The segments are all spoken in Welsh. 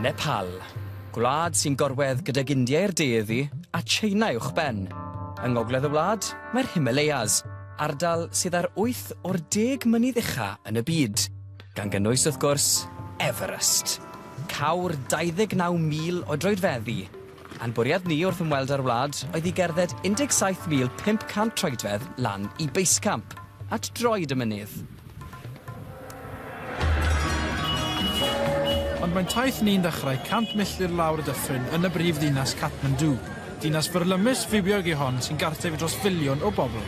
Nepal, gwlad sy'n gorwedd gydag India i'r de iddi a Tsieina uwch ben. Yng ngogledd y wlad, mae'r Himalayas, ardal sydd ar wyth o'r deg mynydd ucha yn y byd. gan gynnwys wrth gwrs Everest. Cawr 29,000 o droedfeddi. A'n bwriad ni wrth ymweld â'r wlad oedd i gerdded 17,500 troedfedd lan i Base Camp, at droed y mynydd. Ond mae'n taith ni'n dechrau 100 milltir lawr y dyffryn yn y brif ddinas Kathmandu. Dinas fyrlymus fywiog yw hon sy'n gartref i dros filiwn o bobl.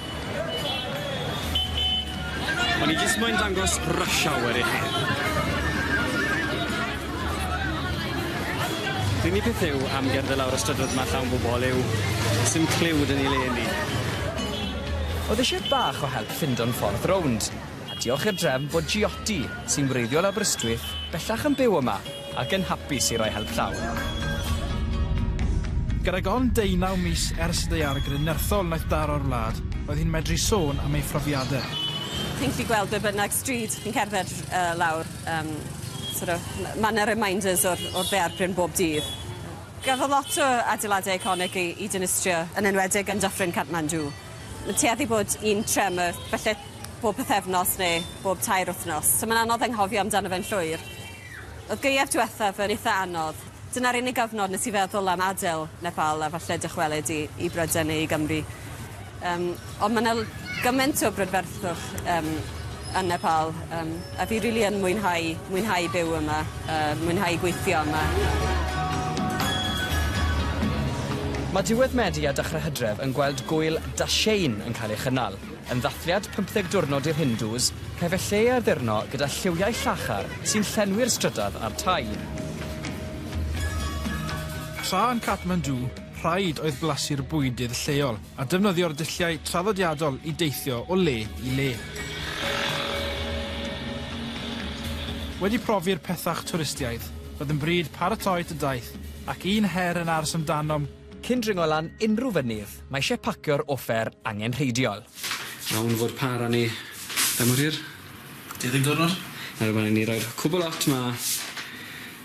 O'n i jyst moyn dangos rush hour i chi. Pr'unig peth yw am gerdded lawr y strydoedd ma llawn bobol yw sim cliw 'da ni le ni. Oedd eisiau bach o help ffindo'n ffordd rownd. A diolch i'r drefn fod Jioty, sy'n wreiddiol Aberystwyth, bellach yn byw yma ac yn hapus i roi help llaw. Gydag ond deunaw mis ers y daeargryn nerthol wnaeth daro'r wlad, roedd hi'n medru sôn am ei phrofiadau. Chi'n gallu gweld be bynnag stryd chi'n cerdded lawr, yym, sort of, ma' 'na reminders o'r o'r ddaeargryn bob dydd. Gafodd lot o adeiladau eiconig eu dinistrio, yn enwedig yn Dyffryn Kathmandu. Mae'n tueddu bod un tremor, falle bob pythefnos neu bob tair wythnos. So mae'n anodd anghofio amdano fe'n llwyr. Oedd gaeaf diwethaf yn eitha anodd. Dyna'r unig gyfnod nes i feddwl am adael Nepal a falle dychwelyd i, i Brydain neu i Gymru. Um, ond mae'n gymaint o brydferthwch um, yn Nepal. Um, A fi rili yn mwynhau mwynhau byw yma yy mwynhau gweithio yma. Mae diwedd Medi a dechrau Hydref yn gweld gŵyl Dashain yn cael ei chynnal, yn ddathliad pymtheg diwrnod i'r Hindŵs, caiff e lle ei addurno gyda lliwiau llachar sy'n llenwi'r strydoedd a'r tai. Tra yn Kathmandu, rhaid oedd blasu'r bwydydd lleol. a defnyddio'r dulliau traddodiadol i deithio o le i le. Wedi profi'r pethach twristiaidd, roedd yn bryd paratoi tŷ daith, ac un her yn ars amdanom, Cyn dringo lan unrhyw fynydd, mae eisiau pacio'r offer angenrheidiol. Iawn fod pâr â ni. Faint mor hir? Deuddeg diwrnod. Nawr mae angen i ni roi'r cwbl ot 'ma.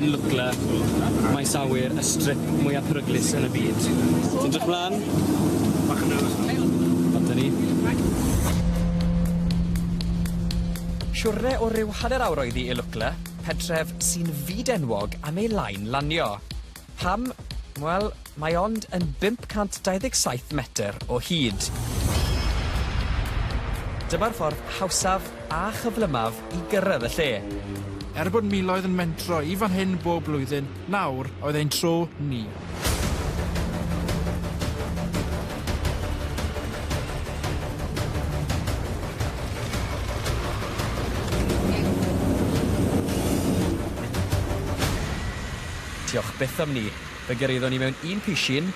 Yn Lwcla, maes awyr y strip mwya peryglus yn y byd. Ti'n edrych mlan? Bach yn nerfus fan hyn. Ond dyna ni. Siwrne o ryw hanner awr oedd hi i Lwcla, pentref sy'n fyd-enwog am ei lain lanio. Pam? Wel, mae ond yn 527 metr o hyd. Dyma'r ffordd hawsaf a chyflymaf i gyrraedd y lle. Er bod miloedd yn mentro i fan hyn bob blwyddyn, nawr oedd ein tro ni. Diolch byth am 'ny. Fe gyrhaeddon ni mewn un pishyn,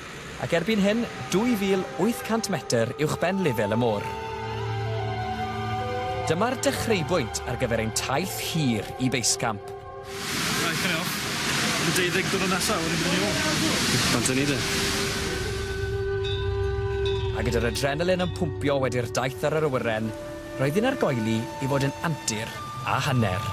ac erbyn hyn, 2,800 metr uwchben lefel y môr. Dyma'r dechreubwynt ar gyfer ein taith hir i Base Camp. Right, hynny off. Yn y deuddeg diwrnod nesa, wedyn byddwn ni ôl. Bant â ni de. A gyda'r adrenalin yn pwmpio wedi'r daith ar yr awyren, Roedd yn argoeli i fod yn antur a hanner.